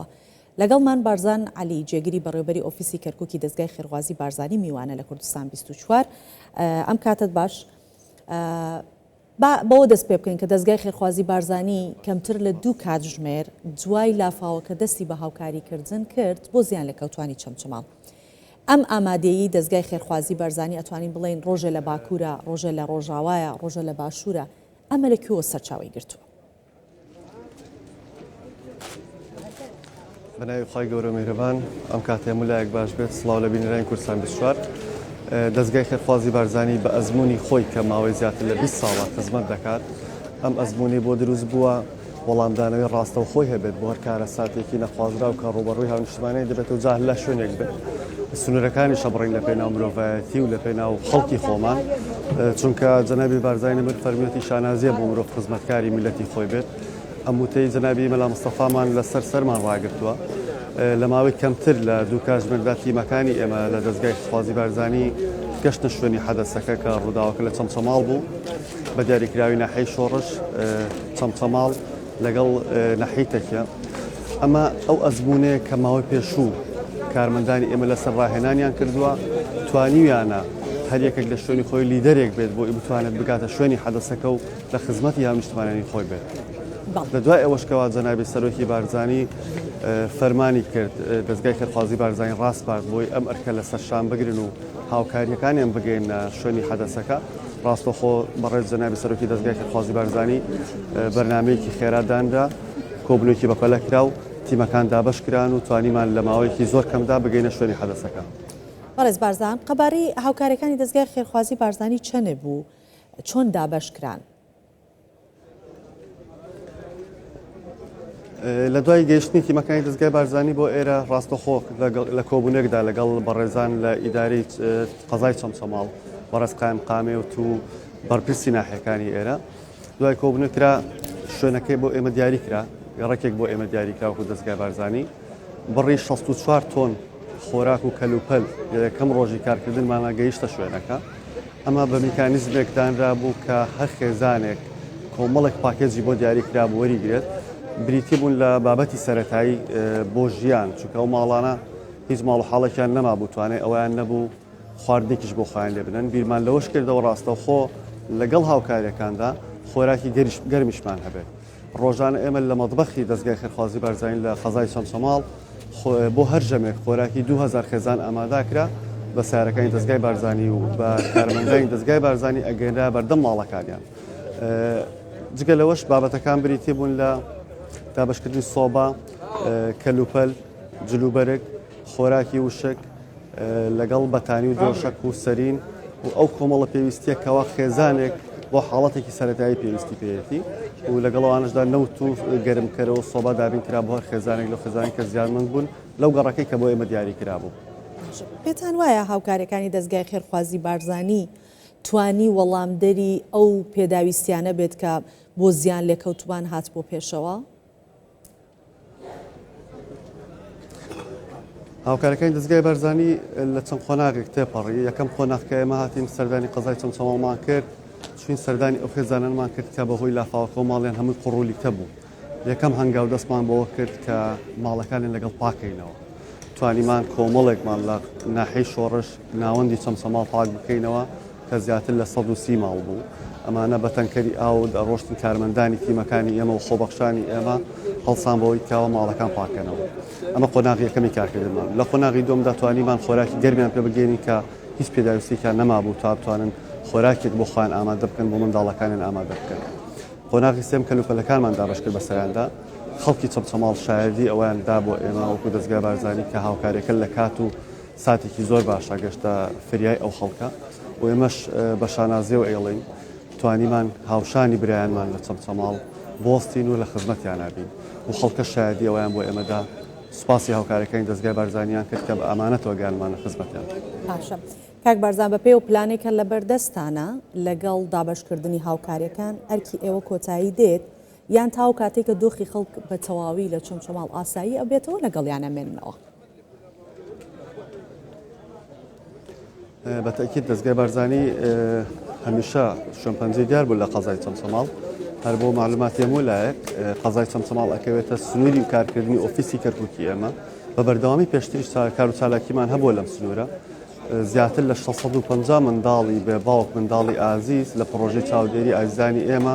بەخوا. لەگەڵمان بارزان عەلی جێگری بەڕێوبەری ئۆفیسی کەرکوکی دەزگای خێرخوازی بارزانی میوانە لە کوردستان بیست و چوار ئەم کاتەت باش با بەوە دەست پێ بکەین کە دەزگای خێرخوازی بارزانی کەمتر لە دوو کاتژمێر دوای لافاوەکە دەستی بە هاوکاری کردن کرد بۆ زیان لە کەوتانی چەمچەماڵ ئەم ئامادەیی دەزگای خێرخوازی بارزانی ئەتوانین بڵین ڕۆژە لە باکوورە ڕۆژە لە ڕۆژاوایە ڕۆژە لە باشوورە ئەمە لە کوێوە سەرچاوی گرتووە بەناوی خی گەورە میرەبان ئەم کاتێ ملایەک باش بێت سلااو لە بینرانی کوردستان بشوار دەستگای خێرخوازی بارزانانی بە ئەزمموی خۆی کە ماوەی زیاتر لە 20 ساڵە خزمەت دەکات ئەم ئەزمموی بۆ دروست بووە وەڵامدانەوەی ڕاستەوخۆی هەبێت بۆ هەر کارە ساتێکی نەخوازرا و کە ڕوبەڕووی هاونیشتمانەی دەبێت و جار لە شوێنێک بێت. سنورەکانی شەبڕین لە پێناو مرۆڤایەتی و لە پێناو خەڵکی خۆمان چونکە جەنابی بارزای نەمر فەرمیەتی شانازیە بۆ مرۆڤ خزمەتکاری میلەتی خۆی بێت ئەم وتەی جەنابی مەلا مستەفامان لەسەر سەرمان ڕاگرتووە لە ماوەی کەمتر لە دوو کاتژمێردا تیمەکانی ئێمە لە دەستگای خوازی بارزانانی گەشتە شوێنی حەدەسەکە کە ڕووداوەکە لە چەمچەماڵ بوو بە دیاریکراوی ناحەی شۆڕش چەمچەماڵ لەگەڵ نەحیتەکیە. ئەمە ئەو ئەزموونەیە کە ماوەی پێشوو کارمەندانی ئێمە لەسەر ڕاهێنانیان کردووە، توانیویانە هەر یەکێک لە شوێنی خۆی لیدەرێک بێت بۆی بتوانێت بگاتە شوێنی حەدەسەکە و لە خزمەتی هاونیشتمانانی خۆی بێت. لە دوای ئەوەش کەوا جەنابی سەرۆکی بارزانی فەرمانی کرد دەزگای فێرخوازی بارزانی ڕاسپارد بۆی ئەم ئەرکە لەسەر شان بگرن و هاوکارییەکانیان بگەیەننە شوێنی حەدەسەکە، ڕاستەوخۆ بەڕێز جەنابی سەرۆکی دەزگای کەرخوازی بارزانی بەرنامەیەکی خێرا دانرا، کۆبوونەوەیەکی بەپەلە کرا و تیمەکان دابەش کران و توانیمان لە ماوەیەکی زۆر کەمدا بگەینە شوێنی حەدەسەکە. بەڕێز بارزان، قەبارەی هاوکارییەکانی دەزگای خێرخوازی بارزانی چەنێ بوو؟ چۆن دابەش کران؟ لە دوای گەیشتنی تیمەکانی دەستگای بارزانانی بۆ ئێرە ڕاستەخۆ لە کۆبوونێکدا لەگەڵ بەڕێزان لە ئیداری قەزای چەمچەماڵ بەڕێز قایم قامێ و تو بەرپرسی ناحەکانی ئێرە دوای کۆبنەکرا شوێنەکەی بۆ ئێمە دیاری کرا ڕێکێک بۆ ئێمە دیاریکراوە و دەستگای بارزانانی بڕی شەست و چوار تۆن خۆراک و کەلوپەل لە یەکەم ڕۆژی کارکردنمانە گەیشتە شوێنەکە، ئەمە بە میکانیزمێک دانرابوو کە هەر خێزانێک کۆمەڵێک پاکێجی بۆ دیاری کرابوو وەریگرێت، بریتی بوون لە بابەتی سەرەتایی بۆ ژیان، چونکە ئەو ماڵانە هیچ ماڵ و حاڵێکیان نەمابوو توانای ئەوەیان نەبوو خواردنێکیش بۆ خۆیان لێ بنن، بیرمان لەوەش کردەوە ڕاستەوخۆ لەگەڵ هاوکارییەکاندا خۆراکی گەرمیشمان هەبێت. ڕۆژانە ئێمە لە مەتبەخی دەزگای خێرخوازی بارزانین لە قەزای چەمچەماڵ بۆ هەر ژەمێک خۆراکی دو هەزار خێزان ئاماداکرا بە سارەکانی دەستگای بارزانانی و بە کارمەندانی دەستگای بارزانانی ئەگەنرا بەردەم ماڵەکانیان جگە لەوەش بابەتەکان بریتی بوون لە دابشکردنی سۆبا کەلوپەل جلوبەرگ خۆراکی وشک لەگەڵ بەتانی و دۆشەک و سەرین و ئەو کۆمەڵە پێویستیە کەوا خێزانێک بۆ حاڵەتێکی سەتایی پێویستی پێەتی و لەگەڵوانشدا نەوت و گەرمکەرەوە سۆبا دابین کرا بۆ هەر خێزانێک لە خێزانانی کە زیانمەند بوون لەو گەڕەکەی کە بۆ ئێمە دیاری کرابوو. پێتان وایە هاوکارەکانی دەستگای خێرخوازی بارزانی توانی وەڵامدەری ئەو پێداویستیانە بێت کە بۆ زیان لێکەوتوان هات بۆ پێشەوە؟ هاوکارەکانی دەزگای بارزانی لە چەند قۆناغێک تێپەڕی یەکەم قۆناغ کە ئێمە هاتیم سەردانی قەزای چەمچەماڵمان کرد چین سەردانی ئەو خێزانانمان کرد کە بەهۆی لافاوەکەەوە ماڵیان هەمووی قڕولیکە بوو یەکەم هەنگاو دەستمان بەوە کرد کە ماڵەکانی لەگەڵ پاکەینەوە توانیمان کۆمەڵێکمان لە ناحی شۆڕش ناوەندی چەمچەماڵ پاک بکەینەوە کە زیاتر لە سەد و سی ماڵ بوو، ئەمانە بە تەنکەری ئاو دەڕۆشتن، کارمەندانی تیمەکانی ئێمە و خۆبەخشانی ئێمە هەڵسان بەوەی کاوە ماڵەکان پاککەنەوە، ئەمە قۆناغی یەکەمی کارکردنمان، لە قۆناغی دووەمدا توانیمان خۆراکی گەرمیان پێ بگەینین کە هیچ پێداویستیەکیان نەمابوو تا بتوانن خۆراکێک بۆ خۆیان ئامادە بکەن بۆ منداڵەکانیان ئامادە بکەن، قۆناغی سێم کەلوپەلەکانمان دابەشکرد بەسەریاندا، خەڵکی چەمچەماڵ شایەدی ئەوەیان دا بۆ ئێمە وەکو دەزگای بارزانی کە هاوکاریەکە لە کات و ساتێکی زۆر باشە گەشتە فریای ئەو خەڵکە و ئێمەش بە شانازیەوە ئێڵین توانیمان هاوشانی برایانمان لە چەمچەماڵ بۆستین و لە خزمەتیانابین و خەڵکە شایدی ئەویان بۆ ئێمەدا سوپاسی هاوکارەکانی دەستگای بارزانیان کرد کە بە ئامانەتەوە گیانمان لە خزمەتیان باشە کاک بارزان بە پێی و پلانێکە لە بەردەستانە لەگەڵ دابشکردنی هاوکاریەکان ئەرکی ئێوە کۆتایی دێت یان تاو کاتێکە دۆخی خەڵک بە تەواوی لە چەمچەماڵ ئاسایی ئەبێتەوە لەگەڵیانە مێنەوە. بە تەئکید دەزگای بارزانی هەمیشە شوێنپەنجەی دیار بوو لە قەزای چەمچەماڵ هەر بۆ معلوماتی هەموو لایەک قەزای چەمچەماڵ ئەکەوێتە سنووری و کارکردنی ئۆفیسی کەرککی ئێمە بە بەردەوامی پێشتریش کار و چالاکیمان هەبووە لەم سنوورە زیاتر لە 650 منداڵی بێ باوک منداڵی ئازیز لە پرۆژەی چاودێری ئازیزانی ئێمە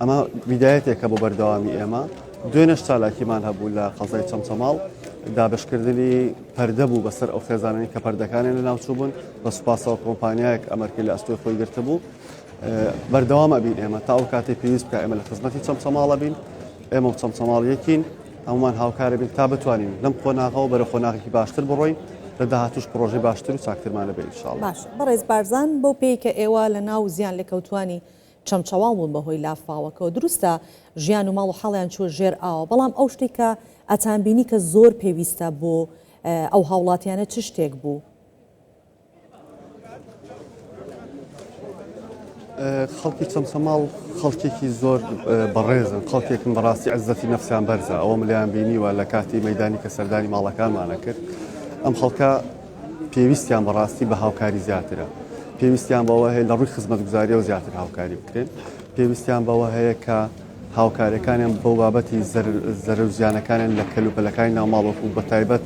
ئەمە بیدایەتێکە بۆ بەردەوامی ئێمە دوێنش چالاکیمان هەبوو لە قەزای چەمچەماڵ دابشکردنی پەردە بوو بەسەر ئەو خێزانانی کە پەردەکانیان لە ناوچوو بوون بە سوپاسەوە کۆمپانیایەک ئەمەرکی لە ئەستۆی خۆی گرتە بوو بەردەوام ئەبین ئێمە تا ئەو کاتی پێویست بکە ئێمە لە خزمەتی چەمچەماڵە بین ئێمە و چەمچەماڵ یەکین هەمومان هاوکارە بین تا بتوانین لەم قۆناغەوە بەرە قۆناغی باشتر بڕۆین لە داهاتوش پرۆژی باشتر و چاکترمانە بێ شاڵ بەڕێز بارزان بۆ پێی کە ئێوە لە ناو زیان لێکەوتانی چەمچەواڵ بوون بەهۆی لافاوەکەوە دروستە ژیان و ماڵ و حاڵیان چووە ژێر ئاوە بەڵام ئەو شتەی کە ئەتان بینی کە زۆر پێویستە بۆ ئەو هاوڵاتیانە چ شتێک بوو؟ خەڵکی چەمچەماڵ خەڵکێکی زۆر بەڕێزن خەڵکێکم بەڕاستی عزەتی نفسیان بەرزە ئەوە ملیان بینیوە لە کاتی مەدانی کە سەردانی ماڵەکانمانە کرد ئەم خەڵکە پێویستیان بە ڕاستی بە هاوکاری زیاترە پێویستیان بەوە هەیە لە ڕووی خزمەتگوزاریەوە زیاتر هاوکاری بکرێن پێویستیان بەوە هەیە کە هاوکارەکانیان بۆ بابەتی زەرە و زیانەکانیان لە کەلوپەلەکانی ناوماڵۆکو بە تایبەت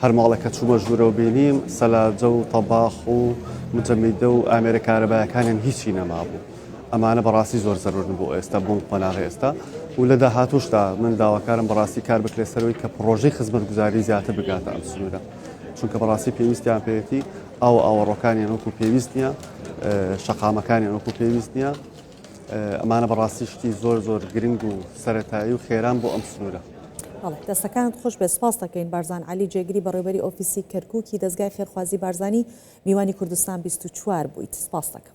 هەرماڵە کە چوومە ژوورەوە بینیم سەلاجە و تەباخ و مجەمیدە و ئامێرە کارەبایەکانیان هیچی نەمابوو ئەمانە بەڕاستی زۆر زەرورن بۆ ئێستا بۆم قۆناغی ئێستا و لە داهاتوشدا من داواکارم بەڕاستی کار بکرێت سەرەوەی کە پرۆژەی خزمەتگوزاری زیاتر بگاتە ئەم سنوورە چونکە بەڕاستی پێویستیان پێێتی ئەو ئاوەڕۆکانیان وەکو پێویست نییە شەقامەکانیان وەکو پێویست نییە ئەمانە بەڕاستی شتی زۆر زۆر گرنگ و سەتایی و خێران بۆ ئەم سنوورە دەستەکانت خۆش بێ سپاس دەکەین بارزان علی جێگری بەڕێبەری ئۆفیسی کەرکووکی دەستگای خێرخوازی بارزانانی میوانی کوردستان 24 بوویت سپاس دەکەم.